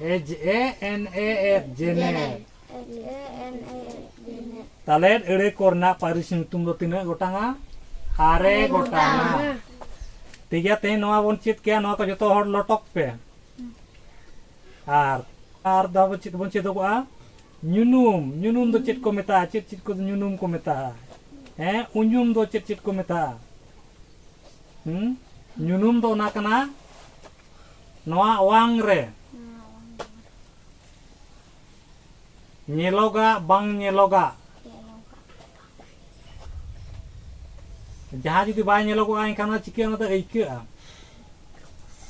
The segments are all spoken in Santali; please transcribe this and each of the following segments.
ᱮᱡ ᱮ ᱮᱱ ᱮ ᱮᱫ ᱡᱮᱱᱮᱫ ᱛᱟᱞᱮᱫ ᱟᱹᱲᱟᱹ ᱠᱚᱨᱮᱱᱟᱜ ᱯᱟᱹᱨᱤᱥ ᱧᱩᱛᱩᱢ ᱫᱚ ᱛᱤᱱᱟᱹᱜ ᱜᱚᱴᱟᱝᱟ ᱟᱨᱮ ᱜᱚᱴᱟᱝᱟ ᱴᱷᱤᱠ ᱜᱮᱭᱟ ᱛᱮᱦᱮᱧ ᱱᱚᱣᱟ ᱵᱚᱱ ᱪᱮᱫ ᱠᱮᱭᱟ ᱱᱚᱣᱟ ᱠᱚ ᱡᱚᱛᱚ ᱦᱚᱲ ᱞᱚᱴᱚᱠ ᱯᱮ ᱟᱨ ᱟᱨ ᱫᱚ ᱟᱵᱚ ᱪᱮᱫ ᱵᱚᱱ ᱪᱮᱫᱚᱜᱚᱜᱼᱟ ᱧᱩᱱᱩᱢ ᱧᱩᱱᱩᱢ ᱫᱚ ᱪᱮᱫ ᱠᱚ ᱢᱮᱛᱟᱜᱼᱟ ᱪᱮᱫ ᱪᱮᱫ ᱠᱚ ᱧᱩᱱᱩᱢ ᱠᱚ ᱢᱮᱛᱟᱜᱼᱟ ᱦᱮᱸ ᱩᱧᱩᱢ ᱫᱚ ᱪᱮᱫ ᱪᱮᱫ ᱠᱚ ᱢᱮᱛᱟᱜᱼᱟ ᱦᱩᱸ ᱧᱩᱱᱩᱢ ᱫᱚ ᱚᱱᱟ ᱠᱟᱱᱟ ᱱᱚᱣᱟ ᱚᱣᱟᱝ ᱨᱮ ᱧᱮᱞᱚᱜᱟᱜ ᱵᱟᱝ ᱧᱮᱞᱚᱜᱟᱜ ᱡᱟᱦᱟᱸ ᱡᱩᱫᱤ ᱵᱟᱭ ᱧᱮᱞᱚᱜᱚᱜᱼᱟ ᱮᱱᱠᱷᱟᱱ ᱚᱱᱟ ᱪᱤᱠᱟᱹ ᱚᱱᱟ ᱫᱚ ᱟᱹᱭᱠᱟᱹᱜᱼᱟ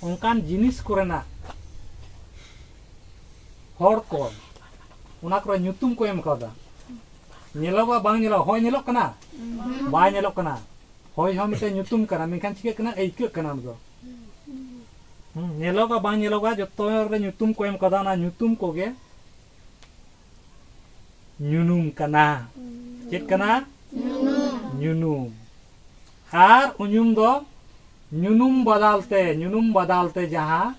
ᱚᱱᱠᱟᱱ ᱡᱤᱱᱤᱥ ᱠᱚᱨᱮᱱᱟᱜ ᱦᱚᱲ ᱠᱚ ᱚᱱᱟ ᱠᱚᱨᱮ ᱧᱩᱛᱩᱢ ᱠᱚ ᱮᱢ ᱠᱟᱣᱫᱟ ᱧᱮᱞᱚᱜᱚᱜᱼᱟ ᱵᱟᱝ ᱧᱮᱞᱚᱜᱼᱟ ᱦᱚᱭ ᱧᱮᱞᱚᱜ ᱠᱟᱱᱟ ᱵᱟᱭ ᱧᱮᱞᱚᱜ ᱠᱟᱱᱟ ᱦᱚᱭ ᱦᱚᱸ ᱢᱤᱫᱴᱮᱱ ᱧᱩᱛᱩᱢ ᱠᱟᱱᱟ ᱢᱮᱱᱠᱷᱟᱱ ᱪᱤᱠᱟᱹᱜ ᱠᱟᱱᱟ ᱟᱹᱭᱠᱟᱹᱜ ᱠᱟᱱᱟ ᱚᱱᱟ ᱫᱚ ᱧᱮᱞᱚᱜᱟ ᱵᱟᱝ ᱧᱮᱞᱚᱜᱟ ᱡᱚᱛᱚ ᱨᱮ ᱧᱩᱛᱩᱢ ᱠᱚ ᱮᱢ ᱠᱟᱫᱟ ᱚᱱᱟ ᱧᱩᱛᱩᱢ ᱠᱚᱜᱮ ᱧᱩᱱᱩᱢ ᱠᱟᱱᱟ ᱪᱮᱫ ᱠᱟᱱᱟ ᱧᱩᱱᱩᱢ ᱟᱨ ᱩᱧᱩᱢ ᱫᱚ ᱧᱩᱱᱩᱢ ᱵᱟᱫᱟᱞ ᱛᱮ ᱧᱩᱱᱩᱢ ᱵᱟᱫᱟᱞ ᱛᱮ ᱡᱟᱦᱟᱸ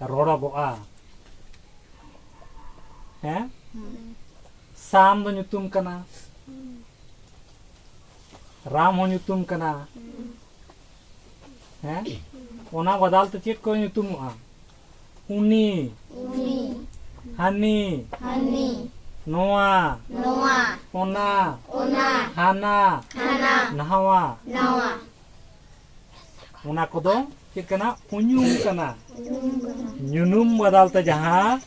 ᱨᱚᱲᱚᱜᱚᱜᱼᱟ ᱦᱮᱸ ᱥᱟᱢ ᱫᱚ ᱧᱩᱛᱩᱢ ᱠᱟᱱᱟ ᱨᱟᱢ ᱦᱚᱸ ᱧᱩᱛᱩᱢ ᱠᱟᱱᱟ ᱦᱮᱸ ᱚᱱᱟ ᱵᱟᱫᱟᱞ ᱛᱮ ᱪᱮᱫ ᱠᱚ ᱧᱩᱛᱩᱢᱚᱜᱼᱟ ᱩᱱᱤ ᱦᱟᱹᱱᱤ ᱱᱚᱣᱟ ᱚᱱᱟ ᱦᱟᱱᱟ ᱱᱟᱣᱟ ᱚᱱᱟ ᱠᱚᱫᱚ ᱪᱮᱫ ᱠᱟᱱᱟ ᱩᱧᱩᱢ ᱠᱟᱱᱟ ᱧᱩᱱᱩᱢ ᱵᱟᱫᱟᱞ ᱛᱮ ᱡᱟᱦᱟᱸ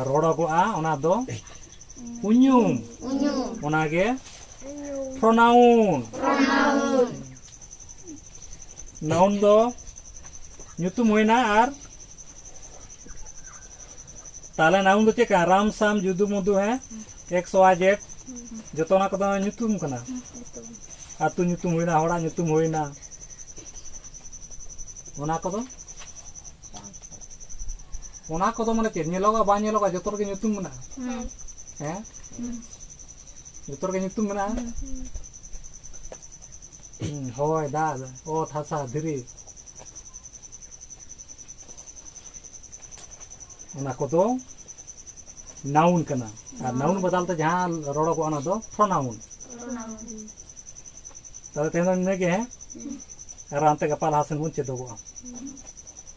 ᱨᱚᱲᱚᱜᱚᱜᱼᱟ ᱚᱱᱟ ᱫᱚ ᱩᱧᱩᱢ ᱚᱱᱟᱜᱮ ᱯᱨᱚᱱᱟᱣᱩᱱ ᱱᱟᱣᱩᱱ ᱫᱚ ᱧᱩᱛᱩᱢ ᱦᱩᱭᱱᱟ ᱟᱨ ᱛᱟᱦᱚᱞᱮ ᱱᱟᱣᱩᱱ ᱫᱚ ᱪᱮᱫ ᱠᱟᱱᱟ ᱨᱟᱢ ᱥᱟᱢ ᱡᱩᱫᱩ ᱢᱩᱫᱩ ᱦᱮᱸ ᱮᱠᱥ ᱣᱟᱭ ᱡᱮᱰ ᱡᱚᱛᱚ ᱚᱱᱟ ᱠᱚᱫᱚ ᱧᱩᱛᱩᱢ ᱠᱟᱱᱟ ᱟᱹᱛᱩ ᱧᱩᱛᱩᱢ ᱦᱩᱭᱱᱟ ᱦᱚᱲᱟᱜ ᱧᱩᱛᱩᱢ ᱦᱩᱭᱱᱟ ᱚᱱᱟ ᱠᱚᱫᱚ ᱚᱱᱟ ᱠᱚᱫᱚ ᱢᱟᱱᱮ ᱪᱮᱫ ᱧᱮᱞᱚᱜᱼᱟ ᱵᱟᱝ ᱧᱮᱞᱚᱜᱼᱟ ᱡᱚᱛᱚ ᱨᱮᱜᱮ ᱧᱩᱛᱩᱢ ᱢᱮᱱᱟᱜᱼᱟ ᱦᱮᱸ ᱡᱚᱛᱚ ᱨᱮᱜᱮ ᱧᱩᱛᱩᱢ ᱢᱮᱱᱟᱜᱼᱟ ᱦᱚᱭ ᱫᱟᱜ ᱚᱛ ᱦᱟᱥᱟ ᱫᱷᱤᱨᱤ ᱚᱱᱟ ᱠᱚᱫᱚ ᱱᱟᱣᱩᱱ ᱠᱟᱱᱟ ᱟᱨ ᱱᱟᱣᱩᱱ ᱵᱚᱫᱟᱞ ᱛᱮ ᱡᱟᱦᱟᱸ ᱨᱚᱲᱚᱜᱚᱜᱼᱟ ᱚᱱᱟ ᱫᱚ ᱯᱨᱚᱱᱟᱣᱩᱱ ᱛᱟᱦᱚᱞᱮ ᱛᱮᱦᱮᱧ ᱫᱚ ᱤᱱᱟᱹᱜᱮ ᱦᱮᱸ ᱟᱨ ᱦᱟᱱᱛᱮ ᱜᱟᱯᱟ ᱞᱟᱦᱟ ᱥᱮᱱ ᱵᱚᱱ ᱪᱮᱫᱚᱜᱚᱜᱼᱟ